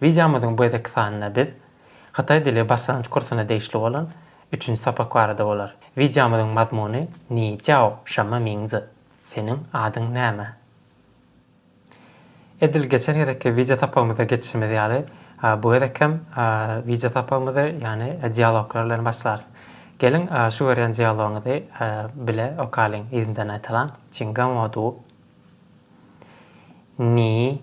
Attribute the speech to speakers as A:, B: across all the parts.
A: Wideomyzyň bu gezekki sanynda biz Hytaý dili başlangyç kursuna degişli bolan üçünji sapak barada bolar. Wideomyzyň mazmuny Ni jiao şemme ming zi, Seniň adyň näme? Edil geçen gezekki wideosapagymyzda geçişimiz ýaly, bu gezek hem wideosapagymyzy, ýagny dialoglar bilen başlarys. Geliň, şu görýän dialogymyzy bile okalyň, yzyndan aýtalyň, Çingan Wo Du, Ni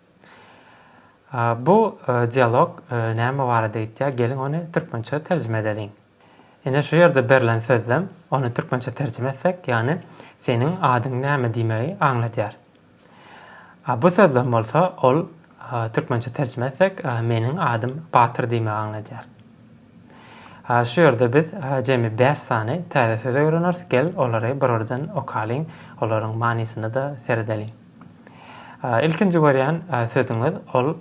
A: Bu dialog näme barada aýtýar, geliň ony türkmençe terjime edeliň. Ine şu ýerde berlen sözlem ony türkmençe terjime etsek, ýagny seniň adyň näme diýmegi aňladýar. Bu sözlem bolsa ol türkmençe terjime etsek, meniň adym Batyr diýmegi aňladýar. Şu ýerde biz jemi bäş sany täze söz öwreneris, gel olary bir-birden okalyň, olaryň manysyna-da seredeliň. Ilkinji görýän sözüňiz ol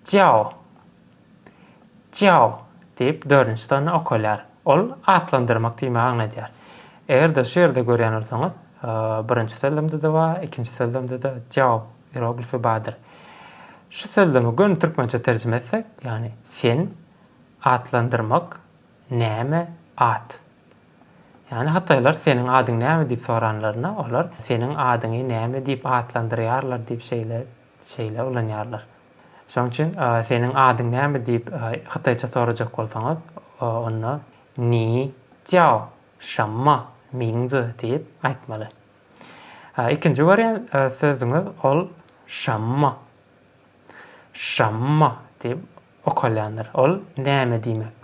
A: Jiao. Jiao diýip dördünji sany okalýar. Ol atlandyrmak diýmegi aňladýar. Eger-de şu ýerde görýän bolsaňyz, birinji sözlemde-de bar, ikinji sözlemde-de Jiao ieroglifi bardyr. Şu sözlemi göni türkmençe terjime etsek, ýagny sen, atlandyrmak, näme, at. Ýagny hytaýlar seniň adyň näme diýip soranlarynda, olar seniň adyňy näme diýip atlandyrýarlar diýip şeýle şeýle ulanýarlar. Şonuň üçin seniň adyň näme diýip hytaýça sorajak bolsaňyz, onda Ni jiao şamma mingzi diýip aýtmaly. Ikinji görýän sözüňiz ol şamma. Şamma diýip okalýandyr. Ol näme diýmek?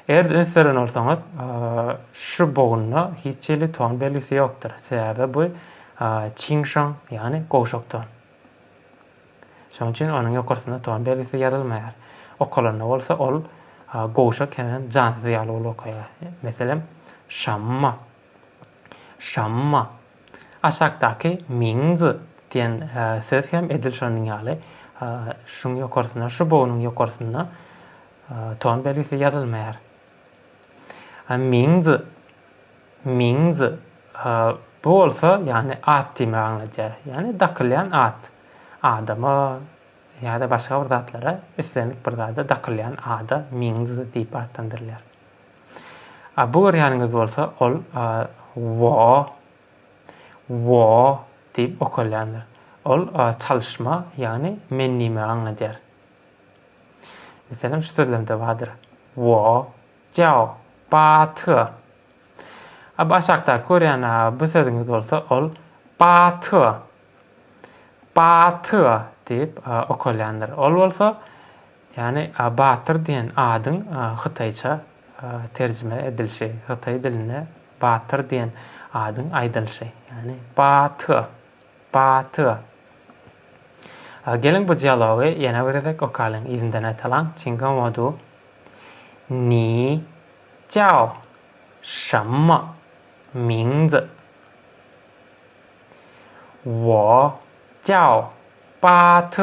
A: Eger-de üns beren bolsaňyz, şu bogunda hiç hili ton belgisi ýokdur. Sebäbi bu çiňşaň, ýagny gowşak ton. Şonuň üçin onuň ýokarsynda ton belgisi ýazylmaýar. Okalanda bolsa ol gowşak hemem jansyz ýaly bolup okaýar. Meselem, şamma. Şamma. Aşakdaky means diýen söz hem edil şonuň ýaly. Şuň ýokarsyna, şu bognuň ýokarsyna ton belgisi ýazylmaýar. Means, means bu bolsa, ýagny at diýmegi aňladýar. Ýagny dakylýan at. Adama ýa-da başga bir zatlara, islendik bir zada dakylýan ada means diýip atlandyrylýar. A bu görýäniňiz bolsa ol wo, wo diýip okalýandyr. Ol çalyşma, ýagny men nime aňladýar. Meselem şu sözlemde bardyr. Wo jiao ba te. A bu aşakdaky görýän a bu sözüňiz bolsa ol ba te, ba te diýip okalýandyr. Ol bolsa Ýagny Batyr diýen adyň hytaýça terjime edilişi, hytaý dilinde Batyr diýen adyň aýdylyşy. Ýagny Ba Ty, Ba Ty. Geliň bu dialogy ýene bir gezek okalyň, yzyndan aýtalyň, Çinga Modu, Ni jiao şemme mingzi? Wo jiao Ba Ty.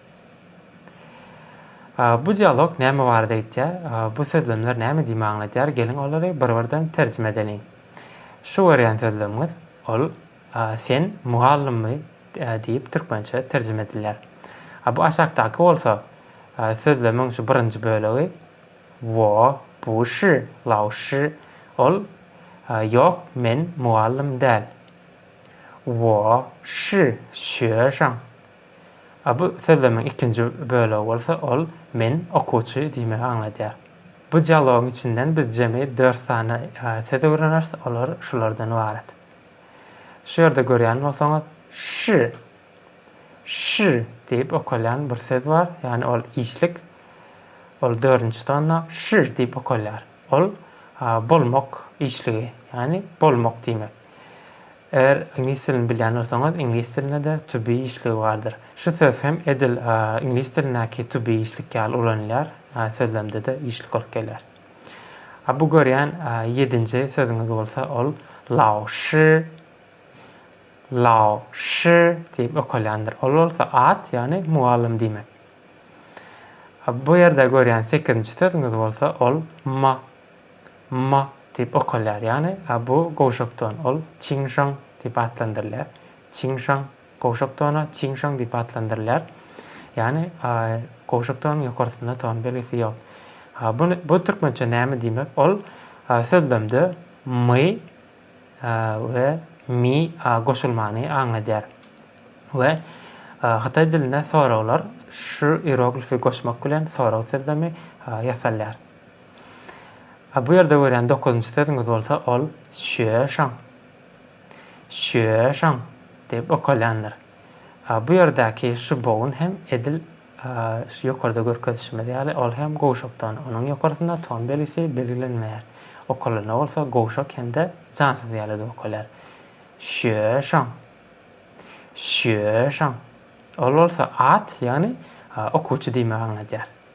A: Bu dialog näme barada aýtýar? Bu sözlemler näme diýme aňladýar? Geliň olary bir-birden terjime edeliň. Şu görýän sözlemiňiz, ol Sen mugallymmy? diýip türkmençe terjime edilýär. Bu aşakdaky bolsa sözlemiň şu birinji bölegi, Wo bu shi lao shi, ol Ýok, men mugallym däl. Wo shi xue shang. A bu sözlemiň ikinji bölegi bolsa ol Men, okuwçy diýmegi aňladýar. Bu dialogyň içinden biz jemi dört sany söz öwreneris, olar şulardan ybarat. Şu ýerde görýän bolsaňyz, ş, ş diýip okalýan bir söz bar, ýagny ol işlik, ol dördünji tonna ş diýip okalýar. Ol bolmak işligi, ýagny bolmak diýmek. Eger iňlis dilini bilýän bolsaňyz, iňlis dilinde-de to be işligi bardyr. Şu söz hem edil iňlis dilindäki to be işlik ýaly ulanylýar, sözlemde-de işlik bolup gelýär. A bu görýän ýedinji sözüňiz bolsa, ol lao shi, lao shi diýip okalýandyr. Ol bolsa at, ýagny mugallym diýmek. Bu ýerde görýän sekizinji sözüňiz bolsa, ol ma, Ma, diýip okgalýar, ýagny bu gowşak don, ol Çiň Şaň diýip atlandyrylýar. Çiň Şaň, gowşak dona Çiň Şaň diýip atlandyrylýar. Ýagny gowşak donuň ýokarsynda ton belgisi ýok. Bu, bu türkmençe näme diýmek? Ol sözlemde my we mi goşulmany aňladýar we hytaý dilinde soraglar şu iroglifi goşmak bilen sorag sözlemi ýasalýar. A bu ýerde görýän dokuzynjy sözüňiz bolsa ol şüýeşaň. Şüýeşaň diýip okalýandyr. A bu ýerdäki şu bogun hem edil şu ýokarda görkezişimiz ýaly ol hem gowşakdan. Onuň ýokarsynda ton belgisi belgilenmeýär. Okalanda bolsa gowşak hem-de jansyz ýaly edip okalýar. Şüýeşaň. Şüýeşaň. Ol bolsa at, ýagny okuwçy diýmegi aňladýar.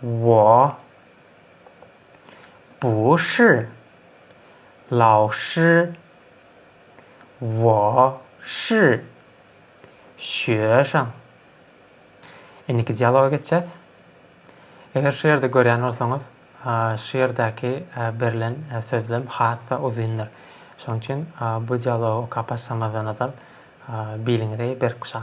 A: Wah. Buszy. Lawşy. Wah. Şy. Şýöşaň. Indiki dialoga geçýäs. Eger şu ýerde görýän bolsaňyz, şu ýerdäki berlen sözlem has-da uzyndyr. Şonuň üçin bu dialogy okap başlamazdan ozal biliňizi berk guşaň.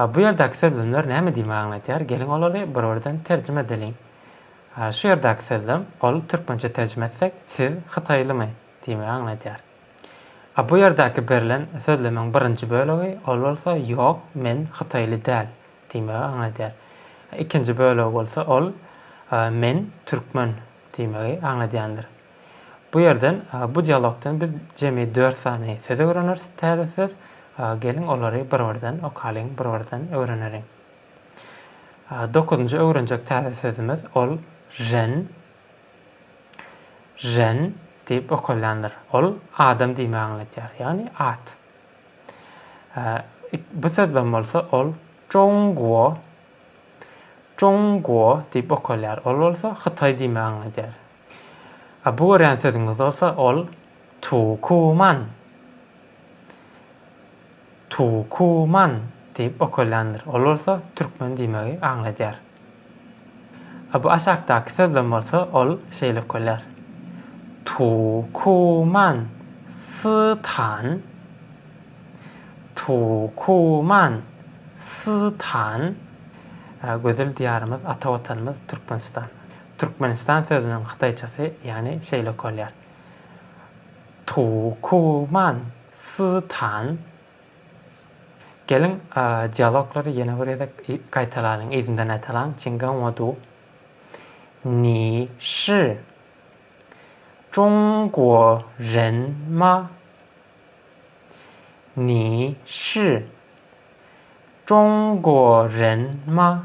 A: A bu ýerdäki sözlemler näme diýmek aňladýar? Geliň olary bir-birden terjime edeliň. A şu ýerdäki sözlem, ol türkmençe terjime etsek, siz hytaýlymy? diýmegi aňladýar. A bu ýerdäki berlen sözlemiň birinji bölegi, ol bolsa ýok, men hytaýly däl diýmegi aňladýar. Ikinji bölegi bolsa, ol, men türkmen diýmegi aňladýandyr. Bu ýerden, bu dialogdan biz jemi dört sany söz öwreneris, täze söz. Geliň, olary bir-birden okalyň, bir-birden öwreneliň. Dokuzynjy öwrenjek täze sözümiz, ol žen, žen, diýip okalýandyr. Ol adam diýmegi aňladýar, ýagny at. Bu sözden bolsa, ol Zhongguo, Zhongguo, diýip okalýar. Ol bolsa Hytaý diýmegi aňladýar. A bu görýän sözüňiz bolsa ol Tuwkuman, Tuwkuman diýip okalýandyr. Ol bolsa türkmen diýmegi aňladýar. A bu aşakdaky sözlem bolsa ol şeýle okalýar, Tuwkuman Sy-tan, Tuwkuman Sy-tan. Gözel Diýarymyz, ata Watanymyz Türkmenistan. Türkmenistan sözüniň hytaýçasy ýany şeýle okalýar, Tu ku man si tan. Geliň, dialoglary ýene bir gezek gaýtalanyň, yzyndan aýtalyň, Çin gan wo du. Ni shi Çun guo ren ma? Ni shi Çun guo ren ma?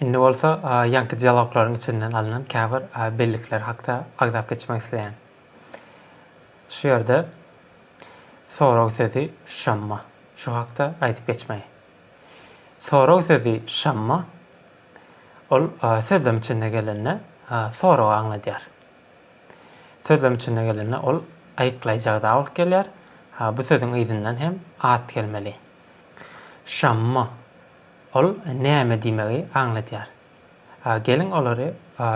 A: Indi bolsa ýaňky dialoglaryň içinden alnan käbir bellikler hakda agzap geçmek isleýän. Şu ýerde sorag sözi şamma. Şu hakda aýdyp geçmeli. Sorag sözi şamma ol sözlem içinde gelende soragy aňladýar. Sözlem içinde gelende ol aýyklaýjy ada bolup gelýär. Bu sözüň yzyndan hem at gelmeli. Şamma, ol näme diýmegi aňladýar? Geliň olary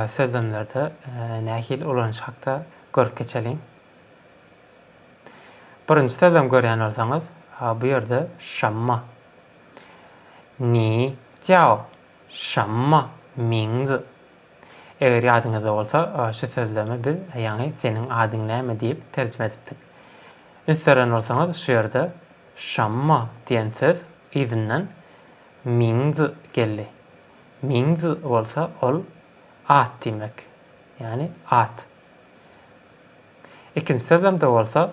A: sözlemlerde nähili ulanyş hakda görüp geçeliň. Birinji sözlem görýän bolsaňyz, bu ýerde şamma, Ni jiao, şamma, mingzi, Eger ýadyňyzda bolsa, şu sözlemi biz ýaňy Seniň adyň näme? diýip terjime edipdik. Üns beren bolsaňyz, şu ýerde Şamma diýen söz yzyndan Mingz geldi. Mingz bolsa ol at diýmek. Ýagny at. Ikinji sözlemde bolsa,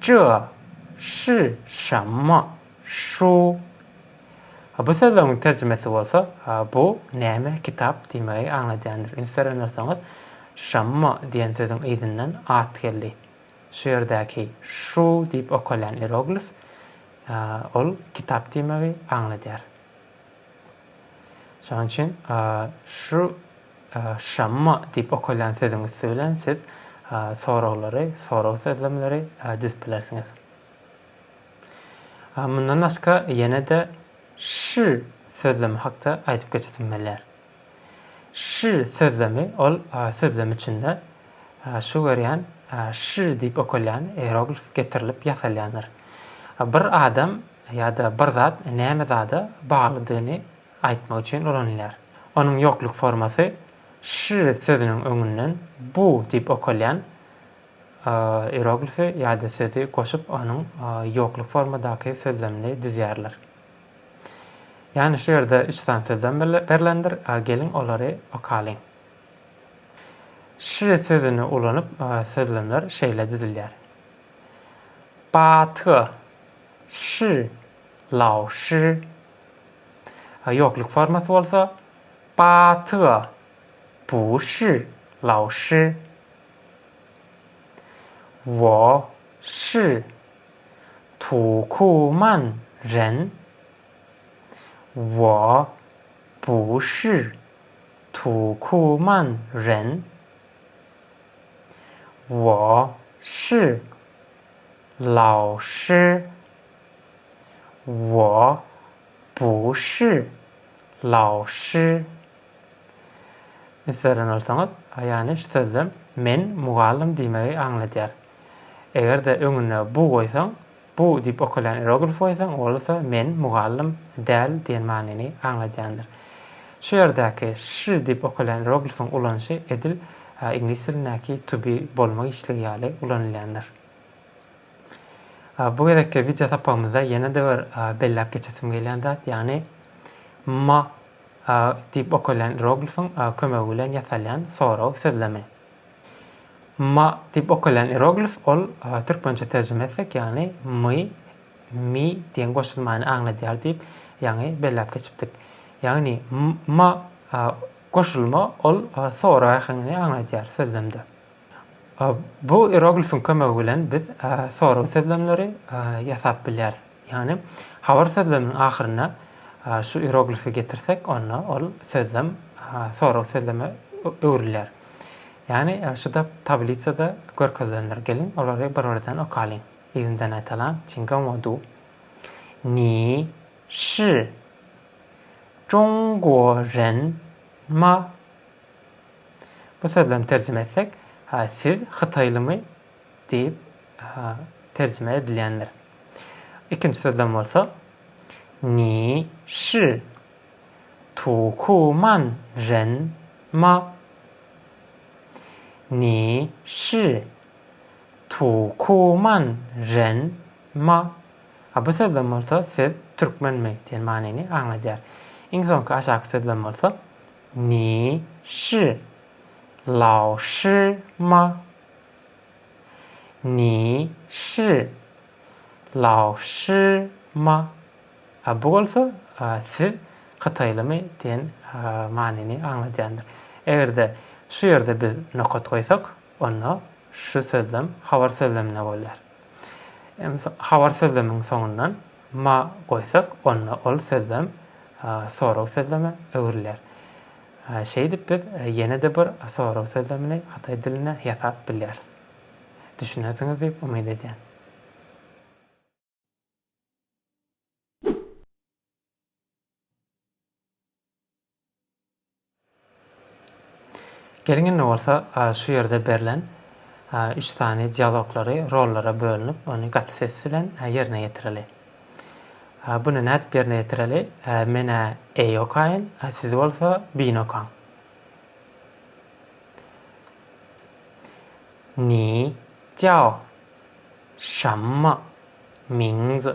A: Çö, şi, şamma, şu. Bu sözleňiň terjimesi bolsa bu näme kitap diýmegi aňladýandyr. Üns beren bolsaňyz, şamma diýen sözüň yzyndan at geldi. Şu ýerdäki şu diýip okalýan ieroglif ol kitap diýmegi aňladýar. Şonuň üçin şu şamma diýip okalýan sözüň üsti bilen siz soraglary, sorag sözlemleri düzüp bilersiňiz. Mundan başga ýene-de ş sözlemi hakda aýdyp geçesim gelýär. Ş sözlemi ol sözlem içinde şu görýän Ş diýip okalýan ieroglif getirilip ýasalýandyr. Bir adam ýa-da bir zat näme zada baglydygyny aýtmak üçin ulanylýar. Onuň ýokluk formasy Ş sözüniň öňünden bu diýip okalýan ieroglifi ýa-da sözi goşup onuň ýokluk formadaky sözlemini düzýärler. Ýany şu ýerde üç sany sözlem berlendir. Geliň olary okalyň. Şy sözüni ulanyp sözlemler şeýle düzülýär. Baty şy lao şy. Ýokluk formasy bolsa Baty bu şy lao şy. Wo şy Tu ku man ren? Wo bu shi tu ku man ren? Wo shi lao shi? Wo bu shi lao shi? Yzarlan bolsaňyz, ýa-ni şu sözlem men mugallym diýmegi aňladýar. Eger-de öňüne bu goýsaň, bu diýip okalýan ieroglif goýsaň, ol bolsa men, mugallym, däl diýen manyny aňladýandyr. Şu ýerdäki sh diýip okalýan ieroglifiň ulanyşy edil iňlis dilindäki to be bolma giçligi ýaly ulanylýandyr. Bu gezekki wideo sapagymyzda ýene-de bir belläp geçesim gelýän zat, ýagny ma diýip okalýan ieroglifiň kömegi bilen ýasalýan sorag sözlemi. Ma diýip okalýan ieroglif ol türkmençe terjime etsek ýagny my mi diýen goşulmany aňladýar diýip ýaňy belläp geçipdik. Ýagny ma goşulma ol sorag äheňini aňladýar sözlemde. Bu ieroglifiň kömegi bilen biz sorag sözlemleri ýasap bilýäris. Ýagny, habar sözleminiň ahyrynda şu ieroglifi getirsek, onda ol sözlem sorag sözleme öwrülýär. Ýagny, şu-da tablisada görkezilendir. Geliň, olary bir-birden okalyň. Yzyndan aýdalaň, Çinga Modu. Ni şi Zhongguo ren ma? Bu sözlemi terjime etsek, Siz hytaýlymy? Diýip, terjime edilýändir. Ikinji sözlem bolsa, Ni shi tu ku man ren ma. Ni shi tu ku man ren ma. A bu sözlem bolsa, Siz türkmenmi? diýen manyny aňladýar. Iň soňky aşaky sözlem bolsa, Ni shi lao shi ma. Ni shi, Lao shi ma. Bu bolsa siz hytaýlymy diýen manyny aňladýandyr. Eger-de şu ýerde biz nokat goýsak, onda şu sözlem habar sözlemine bolýar. Habar sözlemiň soňundan ma goýsak, onda ol sözlem sorag sözleme öwrülýär. Şeýdip biz ýene-de bir sorag sözlemini hytaý dilinde ýasap bilýäris. Düşünersiňiz diýip umyt edýän. Geliň indi bolsa şu ýerde berlen üç sany dialoglary rollara bölünip ony gaty ses bilen ýerine ýetireli. A buna nädip ýerine ýetireli? A men-ä eý okaýyn, a siz bolsa byn okaň. Ni jiao şamma mingzi.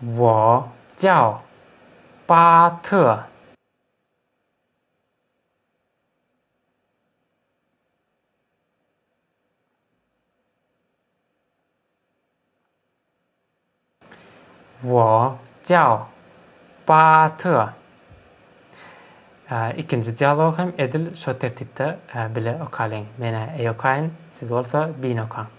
A: Wo jiao ba ty. Wo jiao ba ty. Ikinji dialogy hem edil şo tertipde bile okalyň. Men-ä eý okaýyn, siz bolsa biýn okaň.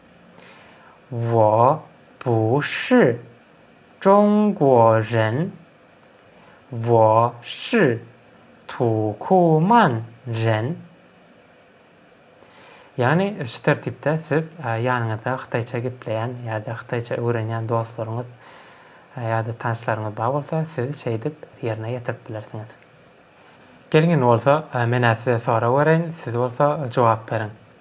A: Wo bu shi zhongguo ren, wo shi tu ku man ren. Ýagny şu tertipde siz ýanyňyzda hytaýça gepleýän ýa-da hytaýça öwrenýän dostlaryňyz ýa-da tanyşlaryňyz bar bolsa, siz şeýdip ýerine ýetirip bilersiňiz. Geliň indi bolsa men-ä size sorag bereýin, siz bolsa jogap beriň.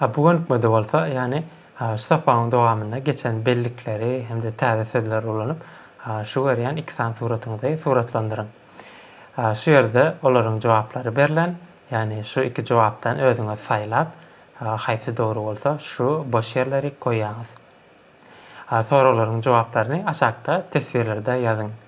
A: A bu gönükmede bolsa, ýagny şu sapagyň dowamynda geçen bellikleri hem-de täze sözleri ulanyp, şu görýän iki sany suratyňyzy suratlandyryň. Şu ýerde olaryň jogaplary berlen, ýagny şu iki jogapdan özüňiz saýlap, haýsy dogry bolsa, şu boş ýerleri goýýaňyz. Soraglaryň jogaplaryny aşakda teswirlerde ýazyň.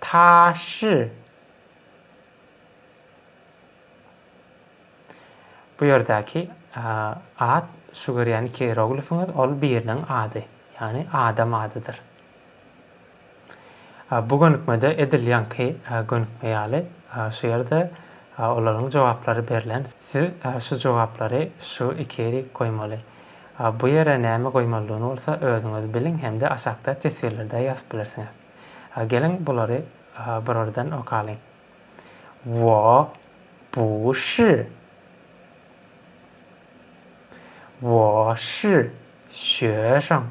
A: taşy Bu ýerdäki at şu görýän iki ieroglifiňiz ol biriniň ady, ýagny adam adydyr. Bu gönükmede edil ýaňky gönükme ýaly şu ýerde olaryň jogaplary berlen, siz şu jogaplary şu iki ýeri goýmaly. Bu ýere näme goýmalydygyny bolsa özüňiz biliň hem-de aşakda teswirlerde ýazyp bilersiňiz. Geliň bulary birardan okalyň. Wo, bu ş. Wo, ş, şö şoň.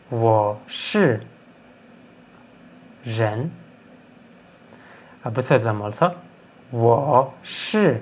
A: Wo, ş, ren. Bu sözlem bolsa, wo, ş.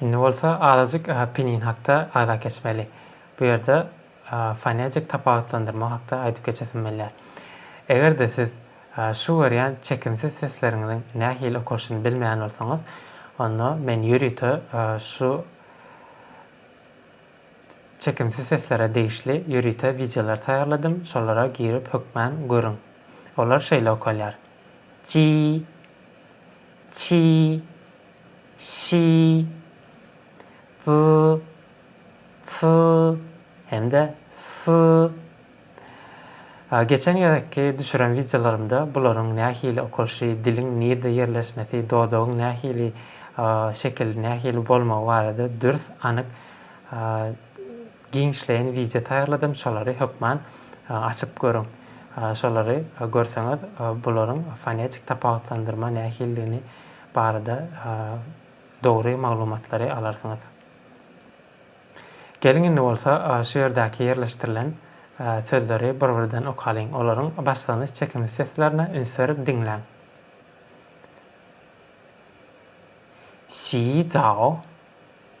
A: Indi bolsa azajyk Pinin hakda agza geçmeli. Bu ýerde fonetik tapawutlandyrma hakda aýdyp geçesim gelýär. Eger-de siz şu görýän çekimsiz sesleriňiziň nähili okalyşyny bilmeýän bolsaňyz, onda men ýörite şu çekimsiz seslere degişli ýörite wideolar taýýarladym, şolara girip hökmän görüň. Olar şeýle okalýar, Ji. Çi, şi, zy, sy hem-de sy. Geçen gezekki düşüren wideolarymda bularyň nähili okalşy, diliň nirde ýerleşmesi, dodagyň nähili şekil, nähili bolmagy barada dürs, anyk Giňişleýin wideo taýýarladym şolary hökman açyp görüň. Şolary görseňiz bularyň fonetik tapawutlandyrma nähilidigini barada dogry maglumatlary alarsyňyz. Geliň indi bolsa şu ýerdäki ýerleşdirilen sözleri bir birden okalyň. Olaryň başlanyş çekimi seslerine üns berip diňläň. Şi zao.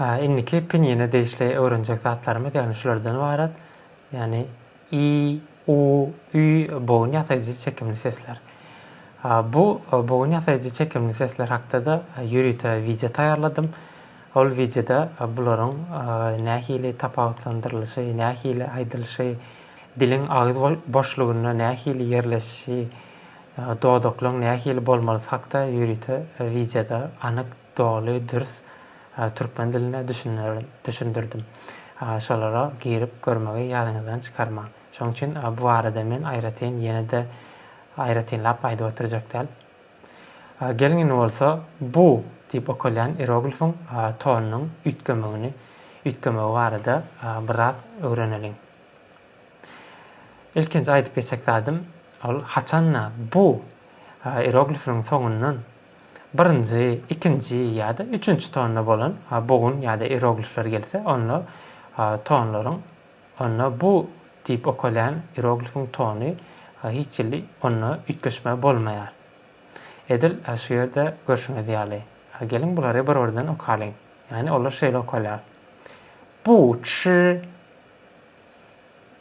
A: Indiki pinýine degişli öwrenjek zatlarymyz ýagny şulardan ybarat, ýagny i, u, ü bogun ýasaýjy çekimli sesler. Bu bogun ýasaýjy çekimli sesler hakda-da ýörite wideo taýýarladym. Ol wideoda bularyň nähili tapawutlandyrylyşy, nähili aýdylyşy, diliň agyz boşlugynda nähili ýerleşişi, Dodaklaň nähili bolmalysy hakda ýörite wideoda anyk, doly, dürs türkmen dilinde düşündirdim. Şolara girip görmegi ýadyňyzdan çykarmaň. Şoň üçin bu barada men aýratyn ýene-de aýratynlap aýdyp oturjak däl. Geliň indi bolsa bu diýip okalýan ieroglifiň tonunyň üýtgemegini üýtgemegi barada biraz öwreneliň. Ilkinji aýdyp geçjek zadym, ol haçanda bu ieroglifleriň soňundan birinji, ikinji ýa-da üçünji tonda bolan bogun ýa-da ieroglifler gelse, onda tonlaryň, onda bu diýip okalýan ieroglifiň tony hiç hili onda üýtgeşme bolmaýar. Edil şu ýerde görşüňiz ýaly. Geliň bulary bir-birden okalyň. Ýagny olar şeýle okalýar. Bu, çy,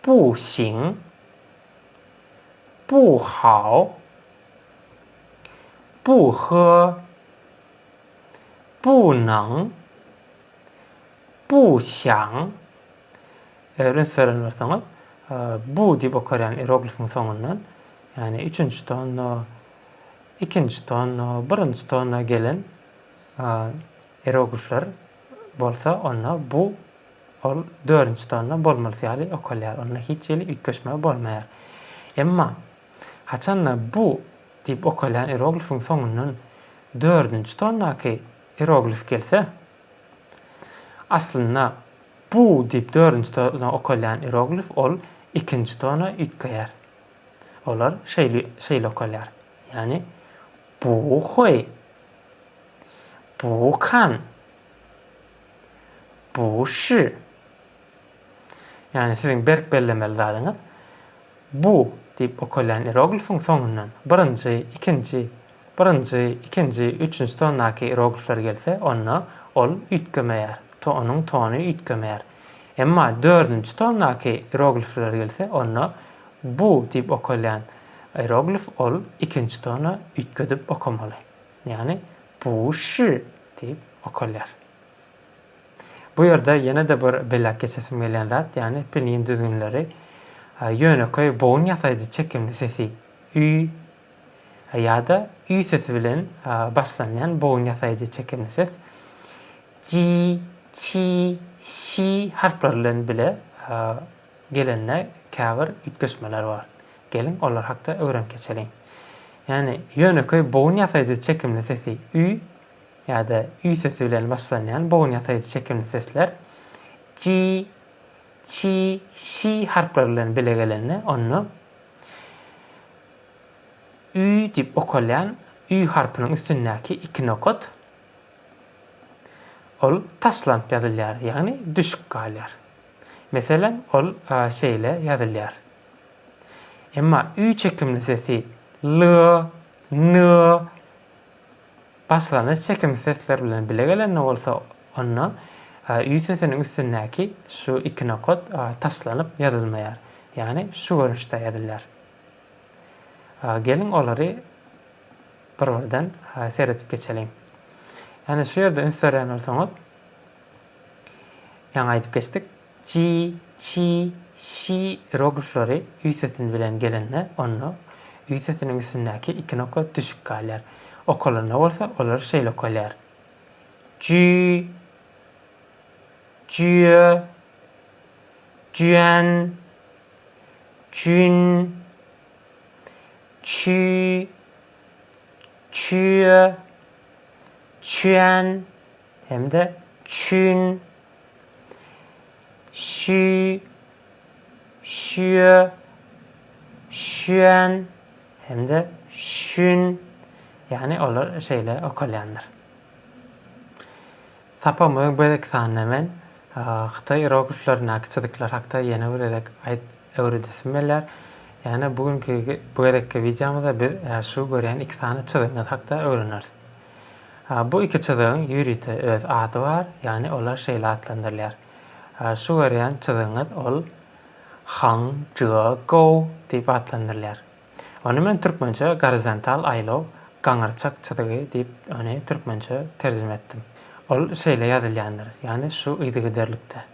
A: Bu Xin, Bu Hao, Bu He, Bu Neng, Bu Xiang, öýlänç söýlen bolsaňyz, Bu diýip okarýan ieroglifiň soňundan, ýagny üçünji tonna, ikinji tonna, birinji tonna gelen ieroglifler bolsa onda Bu Ol dördünji tonna bolmalysy ýaly okalýar, onda hiç hili üýtgeşme bolmaýar. Emma, haçanda bu diýip okalýan ieroglifiň soňundan dördünji tonnaky ieroglif gelse, aslynda bu diýip dördünji tonna okalýan ieroglif ol ikinji tona üýtgeýär. Olar şeýle şeýle okalýar, ýagny bu hoý, bu kan. Bu şi. Ýagny siziň berk bellemeli zadyňyz bu diýip okalýan ieroglifiň soňundan birinji, ikinji, birinji, ikinji, üçünji tondaky ieroglifler gelse, onda ol üýtgemeýär, to onuň tony üýtgemeýär. Emma dördünji tondaky ieroglifler gelse, onda bu diýip okalýan ieroglif ol ikinji tona üýtgedip okamaly. Ýagny, Buşşi! diýip okalýar. Bu ýerde ýene-de bir belläp geçesim gelýän zat, ýagny pinyin düzgünleri. Ýönekeý bogun ýasaýjy çekimli sesi ü ýa-da ü sesi bilen başlanýan bogun ýasaýjy çekimli ses ji, çi, şi harplary bilen bile Gelende käbir üýtgeşmeler bar. Geliň, olar hakda öwrenip geçeliň. Ýagny, ýönekeý bogun ýasaýjy çekimli sesi ü ýa-da ü sesi bilen başlanýan bogun ýasaýjy çekimli sesler ji, çi, şi harplary bilen bile gelende, onda ü diýip okalýan ü harpynyň üstündäki iki nokat ol taşlanyp ýazylýar, ýagny düşüp galýar. Meselem, ol şeýle ýazylýar. Emma ü çekimli sesi l, n, başlangyç çekimsiz sesler bilen bile gelende bolsa, onda ü sesiniň üstündäki şu iki nokat taşlanyp ýazylmaýar, ýagny şu görnüşde ýazylýar. Geliň, olary bir-birden seredip geçeliň. Ýagny şu ýerde üns berýän bolsaňyz, Ýaňy aýdyp geçdik, ji, çi, şi ieroglifleri ü sesini bilen gelende, onda ü sesiniň üstündäki iki nokat düşük galýar. Okalanda bolsa, olar şeýle okalýar, jü, jüe, jüen, jün, çü, çüe, çüen. hem-de çün, şü, şüýe, şüýän hem-de şün, ýagny olar şeýle okalýandyr. Tapamyň bu gezekki sanynda men hytaý irogliflerindäki çyzyklar hakda ýene bir gezek aýt öwredesim gelýär. Ýagny bu günki bu gezekki wideomyzda biz şu görýän iki sany çyzygyňyz hakda öwreneris. Bu iki çyzygyň ýörite öz ady bar, ýagny olar şeýle atlandyrylýar. Şu görýän çyzygyňyz ol Hang Jua Gou diýip atlandyrylýar. Ony men türkmençe gorizontal aýlaw, gaňyrçak çyzygy diýip ony türkmençe terjime etdim. Ol şeýle ýazylýandyr, ýagny şu yzygiderlikde.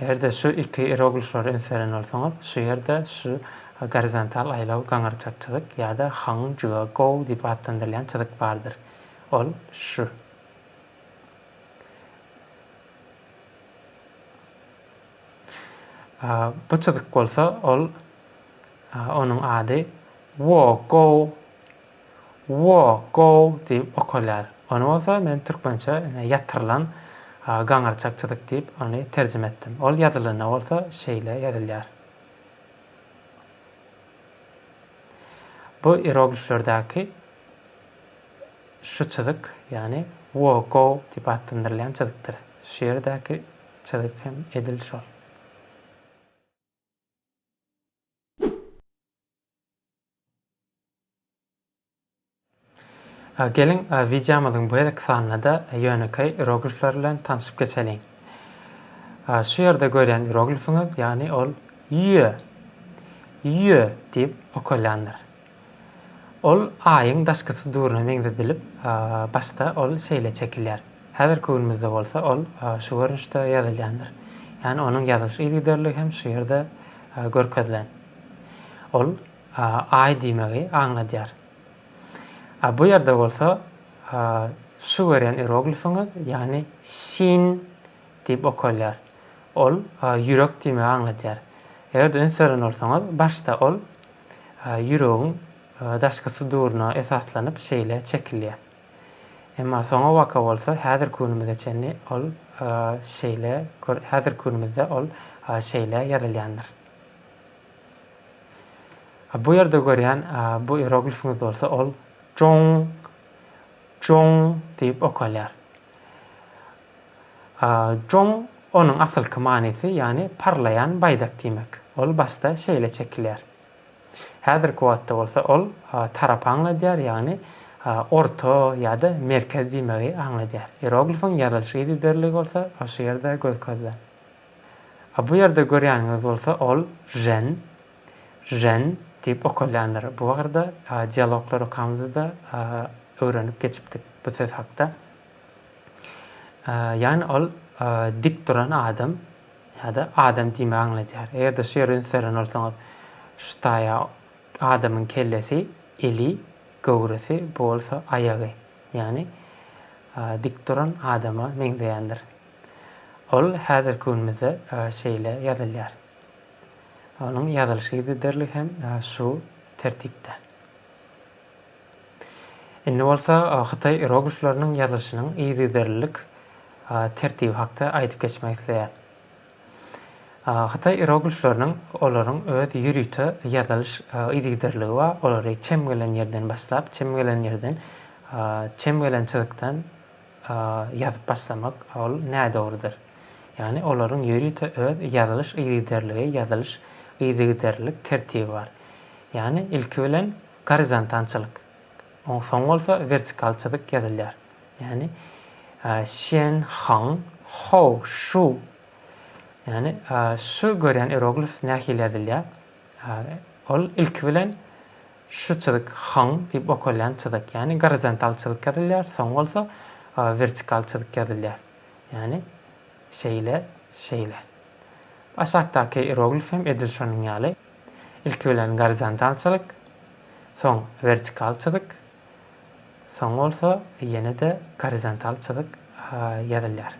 A: Eger-de şu iki ieroglifleri üns beren bolsaňyz, şu ýerde şu gorizontal aýlaw gaňyrçak çyzyk ýa-da Hang Jua Gou diýip atlandyrylýan çyzyk bardyr. Ol şu. Bu çyzyk bolsa, ol, onuň ady Wo Gou. Woo gow diýip okalýar. Ony bolsa men türkmençe ine ýatyrylan gaňyrçak çyzyk diýip ony terjime etdim. Ol ýazylanda bolsa şeýle ýazylýar. Bu ierogliflerdäki şu çyzyk, ýagny woo gow diýip atlandyrylýan çyzykdyr. Şu ýerdäki çyzyk hem edil şol. Geliň, wideomyzyň bu gezekki sanynda ýönekeý ieroglifler bilen tanşyp geçeliň. Şu ýerde görýän ieroglifiňiz, ýagny ol Ýe, Ýe diýip okalýandyr. Ol Aýyň daşky suduryna meňzedilip, başda ol şeýle çekilýär. Häzirki günümizde bolsa ol şu görnüşde ýazylýandyr. Ýagny onuň ýazylyş yzygiderligi hem şu ýerde görkezilen. Ol Aý diýmegi aňladýar. A bu ýerde bolsa şu görýän ieroglifiňiz, ýagny Şin diýip okalýar. Ol ýürek diýmegi aňladýar. Eger-de üns beren bolsaňyz, başda ol ýüregiň daşky suduryna esaslanyp şeýle çekilýär. Emma soňabaka bolsa häzirki günümize çenli ol şeýle, häzirki günümizde ol şeýle ýazylýandyr. Bu ýerde görýän bu ieroglifiňiz bolsa ol Jong Jong diýip okalýar. Jong onuň asylky manysy ýagny parlaýan baýdak diýmek. Ol başda şeýle çekilýär. Häzirki wagtda bolsa ol tarap aňladýar ýagny orta ýa-da merkez diýmegi aňladýar. Ieroglifiň ýazylyş yzygiderligi bolsa şu ýerde göz-közlen. A bu ýerde görýäniňiz bolsa ol jen, jen diýip okalýandyr. Bu barada dialoglar okamyzda-da öwrenip geçipdik bu söz hakda. Ýagny ol dik duran adam ýa-da adam diýmegi aňladýar. Eger-de şu ýere üns beren bolsaňyz, şu taýa adamyň kellesi, eli, göwresi, bu bolsa aýagy. Ýagny dik duran adama meňzeýändir. Ol häzirki günümizde şeýle ýazylýar. Onuň ýazylyş ýygyderligi hem şu tertipde. Indi bolsa hytaý ieroglifleriniň ýazylyşynyň ýygyderlilik tertibi hakda aýdyp geçmek isleýän. Hytaý ieroglifleriniň olaryň öz ýörite ýazylyş ýygyderligi bar, olary çem gelen ýerden başlap, çem gelen ýerden, çem gelen çyzykdan, ýazyp başlamak, ol nädogrudyr. Ýagny olaryň ýörite öz ýazylyş yzygiderligi, ýazylyş yzygiderlilik tertibi bar. Ýagny ilki bilen gorizontal çyzyk, soň bolsa wertikal çyzyk ýazylýar. Ýagny Şen, Hang, Hou, Şu. Ýagny şu görýän iroglif nähili ýazylýar? Ol ilki bilen. Şu çyzyk Hong diýip okalýan çyzyk, ýagny gorizontal çyzyk ýazylýar, Song bolsa wertikal çyzyk ýazylýar, ýagny şeýle, şeýle. Aşakdaky ieroglif hem edil şonuň ýaly. Ilki bilen gorizontal çyzyk, soň wertikal çyzyk, soň bolsa ýene-de gorizontal çyzyk ýazylýar.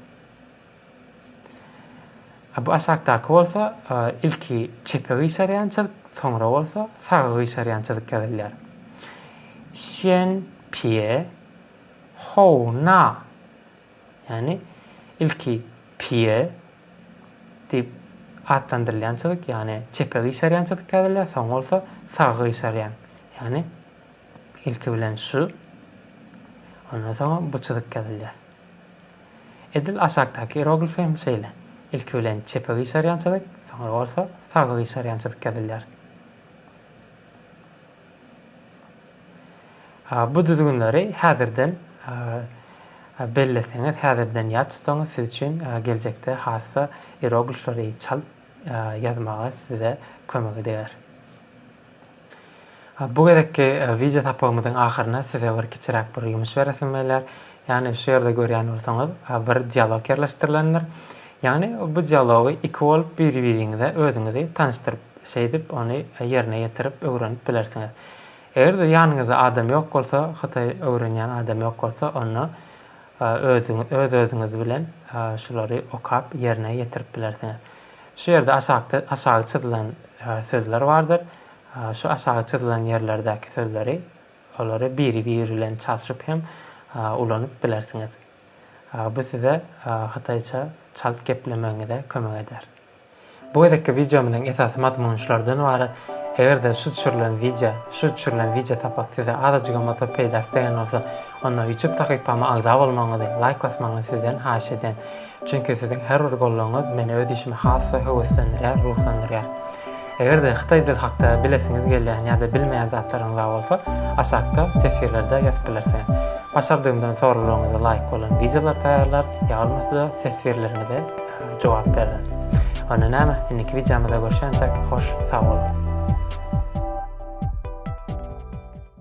A: A bu aşakdaky bolsa ilki çepe gyşarýan çyzyk, soňra bolsa saga gyşarýan çyzyk ýazylýar. Xian pie hou na. Ýagny ilki pie diýip atlandyrylýan çyzyk, ýagny çepe gyşarýan çyzyk ýazylýar, soň bolsa saga gyşarýan. Ýagny ilki bilen şu, ondan soň bu çyzyk ýazylýar. Edil aşakdaky ieroglifi hem şeýle, ilki bilen çepe gyşarýan çyzyk, soňra bolsa saga gyşarýan çyzyk ýazylýar. Bu düzgünleri häzirden belleseňiz, häzirden ýat tutsaňyz siz üçin geljekde hassa ieroglifleri çalt ýazmaga size kömegi deger. Bu gezekki wideo sapagymyzyň ahyryna size bir kiçiräk bir ýumuş beresim gelýär. Ýagny şu ýerde görýän bolsaňyz, bir dialog ýerleşdirilendir. Ýagny bu dialogy iki bolup bir-biriňize özüňizi tanyşdyryp, şeýdip ony ýerine ýetirip öwrenip bilersiňiz. Eger-de ýanyňyzda adam ýok bolsa, hytaý öwrenýän adam ýok bolsa, onda özüňiz öz-özüňiz bilen şulary okap ýerine ýetirip bilersiňiz. Şu ýerde aşakda aşagy çyzylan sözler bardyr. Şu aşagy çyzylan ýerlerdäki sözleri, olary biri-biri bilen çalşyp hem ulanyp bilersiňiz. Bu size hytaýça çalt geplemegiňize kömek eder. Bu gezekki wideomyzyň esasy mazmuny şulardan ybarat. Eger-de şu düşürilen wideo, şu düşürilen wideo sapak size azajygam bolsa peýdasy degen bolsa, onda ýutub sahypama agza bolmagyňyzy, laýk basmagyňyzy sizden haýyş edýän. Çünki siziň her bir goldawyňyz meni öz işime has-da höweslendirýär, ruhlandyrýar. Eger-de hytaý dil hakda bilesiňiz gelýän ýa-da bilmeýän zatlaryňyz bar bolsa, aşakda teswirlerde ýazyp bilersiňiz. Başardygymdan soraglaryňyza laýyk bolan wideolar taýýarlar, ýa bolmasa-da teswirleriňize jogap bererin. Onda näme, indiki wideomyzda görşençek, hoş sag boluň!